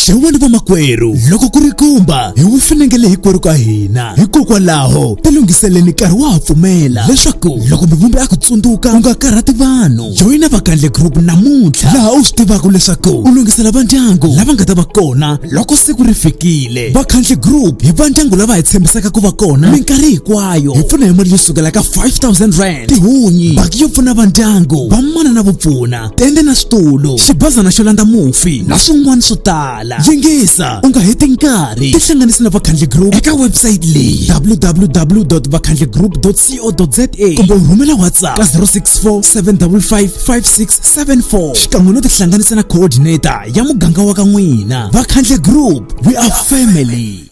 xewani vamakwerhu loko ku ri kumba hi wu finengele hinkwerhu ka hina hikokwalaho tilunghiseleni nkarhi wa ha pfumela leswaku loko mivumbi a ku tsundzuka u nga karhati vanhu joyina vakandle group namuntlha laha u swi tivaka leswaku u lunghisela va ndyangu lava nga ta va kona loko siku ri fikile vakhandle group hi va ndyangu lava hi tshembisaka ku va kona minkarhi hinkwayo hi pfuna hi mali yo sukela ka 5000 rand tihunyi baki yo pfuna va ndyangu va mana na vupfuna tende na switulu xibazana xo landza mufi na swin'wana swo tala yingisa u nga heti nkarhi tihlanganisi na vakhandli group eka website leyi www.vakhandligroup.co.za kumbe u rhumela whatsapp ka 0647555674 xikan'we no tihlanganisa na coordinator ya muganga wa ka n'wina vakhandli group we are family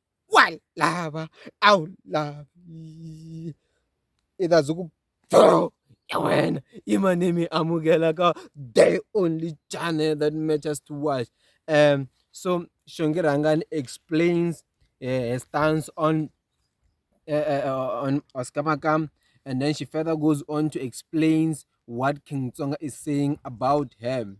wa lava a wu lavi i ta byi ku boo ya wena i ma ni mi amukela ka the only channel that matters to watch um so Xongirhangani explains her stance on uh, on Oscar Makam and then she further goes on to explains what King Tsonga is saying about him.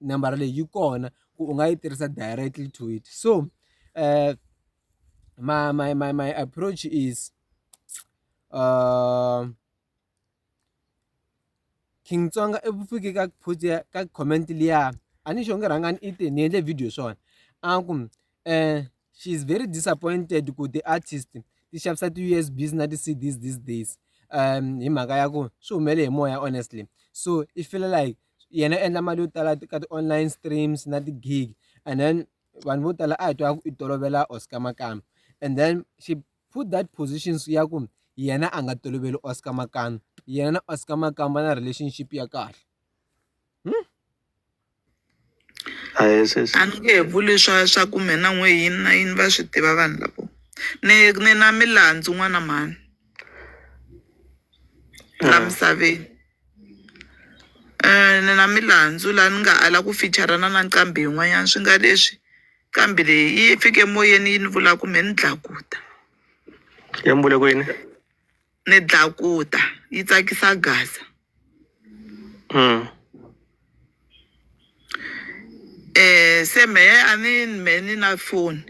nambara leyi yi kona ku u nga yi tirhisa directly to it so my my my my approach is uh, King Tsonga i vufiki ka post ya ka comment liya a ni xo nge rhangani i te ni endle video swona a ku um she is very disappointed ku the artist ti xavisa ti-usbs na ti-cds these days um hi mhaka ya ku swi humele hi moya honestly so i feel like yena u endla mali yo tala ka ti-online streams na ti-gig and then vanhu vo tala a hi twa ku i tolovela Oscar Makano and then she put that positions ya ku yena a nga toloveli Oscar Makano yena na Oscar Makano va na relationship ya kahle hmm? a ni nge he vuli swa swa ku mina n'we yini na yini va swi tiva vanhu lavo ni ni na milandzu n'wana mhani la misaveni Ni na milandzu laha ni nga ala ku fichara-na na nqambi yin'wanyana swi nga leswi nqambi leyi yi fike moyeni yi ni vula ku me ni dlakuta yi mi vule ku yini ni dlakuta yi tsakisa gaza se mehe a ni me ni na foni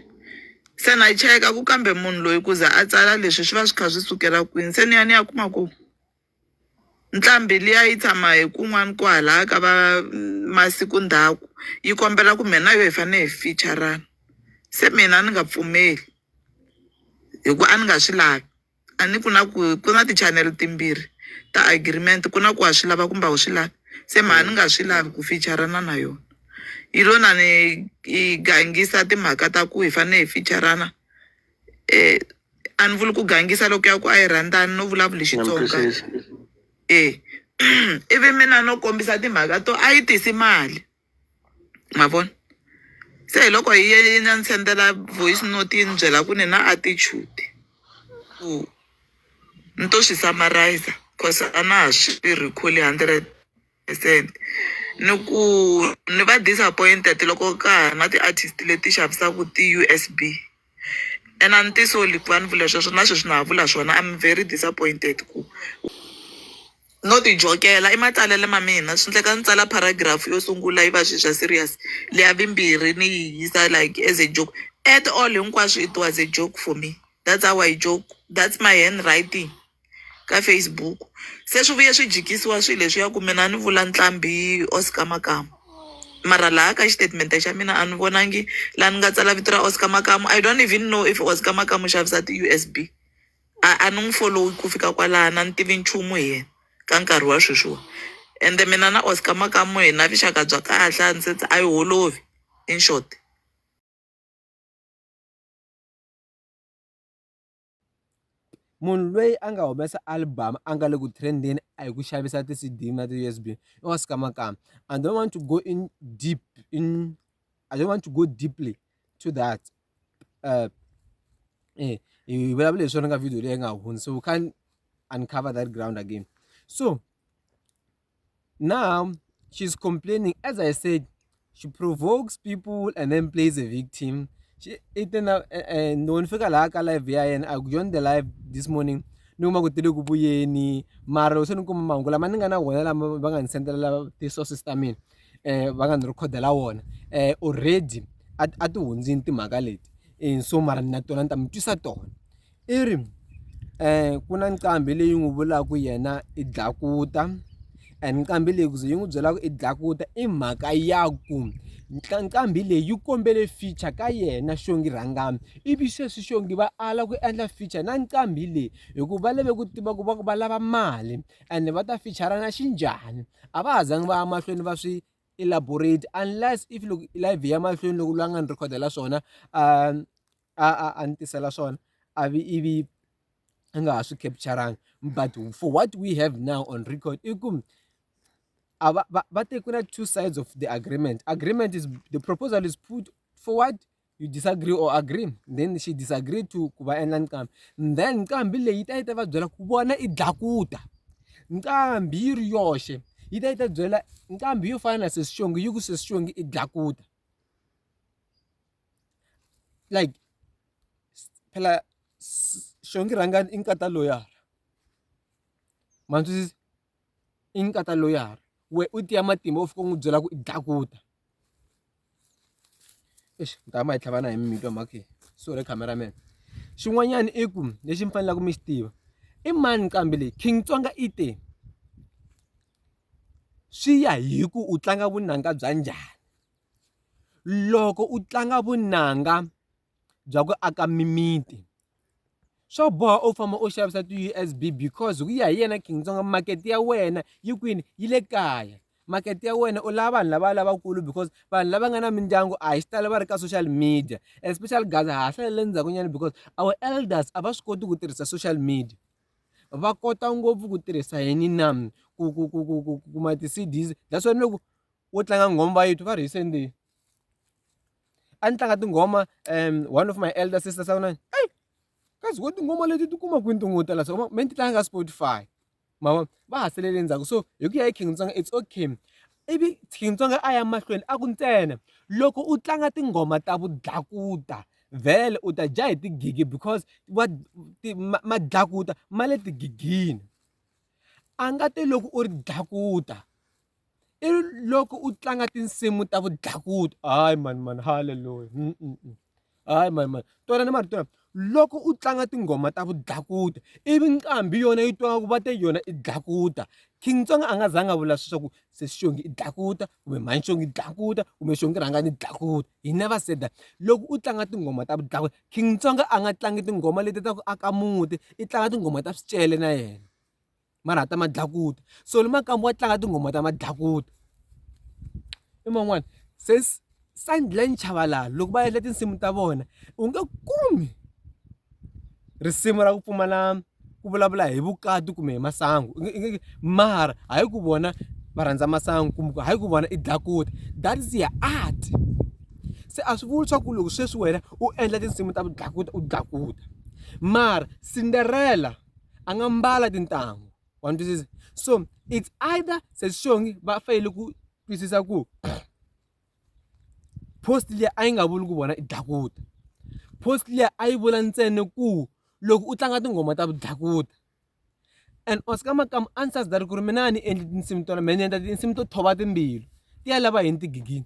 se na cheka ku kambe munhu loyi ku za a tsala leswi swi va swi kha swi sukela kwini se ni ya ni ya kuma ku. Nqambhi liya yi tshama hi kun'wana kwahalaya ka va masiku ndhaku yi kombela ku mina na yo hi fanele hi ficha-rana se mina a ni nga pfumeli hi ku a ni nga swi lavi a ni ku na ku ku na ti-channel timbirhi ta agreement ku na ku wa swi lava kumbe a wu swi lavi se mehe a ni nga swi lavi ku ficha-rana na yona yi lo na ni yi gangisa timhaka ta ku hi fanele hi ficha-rana eh a ni vuli ku gangisa loko ya ku a yi rhandzani no vulavula hi na mi xitsonga twisisa e ivi mina no kombisa timhaka to a yi tisi mali ma vona se hi loko hi ye na ni sendela voice note yi ni byela ku ni na attitude ku ni to swi summarize cause a na ha swi recall hundred said ni ku ni va disappointed loko ka ha ri na ti-artist leti xavisaka ti-usb and a ni tisoli ku va ni vula sweswo na sweswi na ha vula swona i'm very disappointed ku no ti jokela i matsalelo ma mina swi endleka ni tsala paragraph yo sungula yi va swilo swa serious leya vimbirhi ni yi yisa like as a joke at all hinkwaswo it was a joke for me that's how I joke that's my handwriting. ka Facebook se swi vuye swi jikisiwa swilo leswiya ku mina a ni vula ntlhambi Oscar Makamu mara laha ka xitatimende xa mina a ni vonangi laha ni nga tsala vito ra Oscar Makamu I don't even know if Oscar Makamu u xavisa ti-U_S_B a a ni n'wi folowi ku fika kwalaho a ni tivi nchumu hi yena ka nkarhi wa sweswiwa ende mina na Oscar Makamu hi na vuxaka bya kahle a ni se a yi holovi in short. munhu loyi a nga humesa album a nga le ku trendeni a hi ku xavisa ti-cd na ti-usb i wa swikamakama i don't want to go in deep in i don't want to go deeply to that uh, eh, hi vulavula hi swona ka video leyi nga hundza so we can't uncover that ground again so Now she's complaining. As I said, she provokes people and then plays a victim. She eaten up and when fika la ka live ya and I joined the live this morning. No ma kutile ku buyeni mara useni kuma mangu lama ni nga na wona lama va nga ni sendela ti sources ta mina eh va nga ni recordela wona eh already a ti hundzini timhaka leti eh so mara na tona ni ta mi twisa tona i ri ku na nqambi leyi n'wi vulaka ku yena i dlakuta and nqambi leyi ku ze yi n'wi byela ku i dlakuta i mhaka ya ku nqambi leyi yi kombele feature ka yena xongi rhangami ivi sweswi xongi va ala ku endla feature na nqambi leyi hikuva va lave ku tiva ku va ku va lava mali ende va ta fichara na xinjhani a va ha zangi va ya mahlweni va swi elaborate unless if loko live yi ya mahlweni loko loyi a nga ni rhekhodela swona . a a a ni tisela swona a vi ivi a nga ha swi capture-angi but for what we have now on record i ku a va va va te ku na two sides of the agreement agreement is the proposal is put forward you disagree or agree then she disagree to ku va endla nqambi then nqambi leyi ta yi ta va byela ku vona i dlakuta nqambi yi ri yoxe yi ta yi ta byela nqambi yo fana na sesi xongi yi ku sesi xongi i dlakuta like phela xongi rhanga i nkata loyara ma ni twisisa i nkata loyara wehe u tiya matimba u fika u n'wi byela ku i dlakuta exi mi ta va ma hi tlhava na hi mi twa mhaka leyi sorry camera man xin'wanyana i ku lexi mi faneleke mi xi tiva i mani nqambi leyi King Tsonga i te swi ya hi ku u tlanga vunanga bya njhani loko u tlanga vunanga bya ku aka mimiti swo boha u famba u xavisa ti-U_S_B because hi ku ya hi yena King Tsonga makete ya wena yi kwini yi le kaya makete ya wena u lava vanhu lava lavakulu because vanhu lava nga na mindyangu a hi xitalo va ri ka social media especially gaza ha ha hlalele ndzhaku nyana because our elders a va swi koti ku tirhisa social media va kota ngopfu ku tirhisa yini na ku ku ku ku ku kuma ti-C_Ds that's why ni loko wo tlanga nghoma va yitwa va ri hi sendeni a ni tlanga tinghoma um one of my elder sister sa kunani eyi kazi wo tinghoma leti ti kuma kwini tin'we tala so me ni ti tlanga ka spotify mavo va ha selele ndzhaku so hi ku ya hi king tsonga it's okay ivi king tsonga a ya mahlweni a ku ntsena loko u tlanga tinghoma ta vudlakuta vhele u ta dya hi tigigi because wa ma dlakuta ma le tigigini a nga te loko u ri dlakuta i loko u tlanga tinsimu ta vudlakuti hayi mani mani halleluya mm, mm, mm. hayi mani mani tona ni marito lama loko u tlanga tinghoma ta vudlakuta ivi nqambi yona yi twa ku va te yona i dlakuta king tsonga a nga zanga vula sweswaku se xongi i dlakuta kumbe mhani xongi i dlakuta kumbe xongi rhanga ni dlakuta hi never said that loko u tlanga tinghoma ta vudlakuta king tsonga a nga tlangi tinghoma leti ta ku aka muti i tlanga tinghoma ta swicele na yena ma rhata madlakuta so ni makamba wa tlanga tinghoma ta madlakuta i man'wana se Sandline Chabalala loko va endla tinsimu ta vona u nge kumi risimu ra ku pfumala ku vulavula hi vukati kumbe hi masangu mara hayi ku vona va rhandza masangu kumbe ku hayi ku vona i dlakuta that is ya art se a swi vuli swa ku loko sweswi wena u endla tinsimu ta vudlakuta u dlakuta mara Cinderella. angambala tintangu wa ni twisisa so it's either sesixongi va fanele ku twisisa ku post leyi a yi nga vuli ku vona i dlakuta post leyi a yi vula ntsena ku loko u tlanga tinghoma ta vudlakuta and oscar makamu a ni sasita ri ku ri mina a ni endli tinsimu tona mina ni endla tinsimu to thova timbilu ti ya lava yini tigigini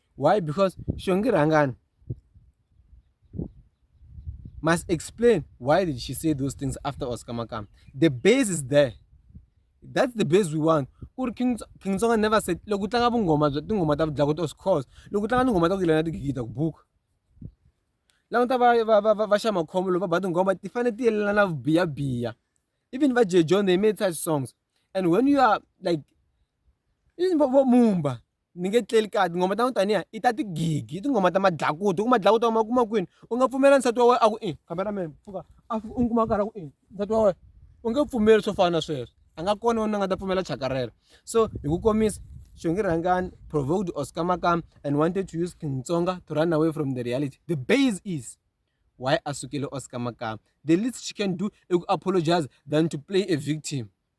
Why? Because Shongi Rangani must explain why did she say those things after Oscar Makam. The base is there. That's the base we want. Uri King King Tsonga never said loko tlanga vungoma bya tingoma ta vudlako to scores loko tlanga tingoma ta ku yelana tigigita ku buka lava ta va va va va xa makhombo loko va ba tingoma ti fanele ti yelelana vubiya biya even va J John they made such songs and when you are like even Mumba ni nge tleli kahle tinghoma ta n'wi taniya i ta tigigi i tinghoma ta madlakuti ku madlakuti ma kuma kwini u nga pfumela nsati wa wena a ku i cameraman pfuka a u n'wi kuma a karhi a ku i nsati wa wena u nge pfumeli swo fana na sweswo a nga kona wena nga ta pfumela chakarela so hi ku komisa xongi rhangani provoked oscar makam and wanted to use king tsonga to run away from the reality the base is why a sukele oscar makam the least she can do i ku apologize than to play a victim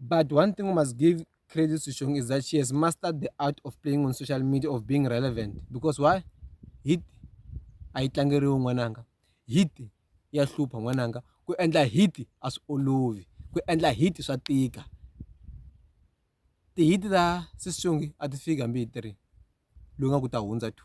But one thing we must give credit to Shong is that she has mastered the art of playing on social media, of being relevant. Because why? Hit ayitlangeriwi n'wananga. Hit ya hlupha n'wananga. Ku endla hit a swi olovi. Ku endla hit swa tika. Ti-hit ta Sis Shongi a ti fiki hambi hi three. Loyi nga ku ta hundza two.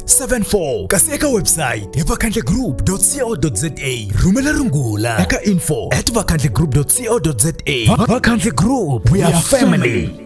74 kasi eka website hi vakhandlegroup.co.za rhumela rungula eka info at vakhandlegroup.co.za vakhandle group we are family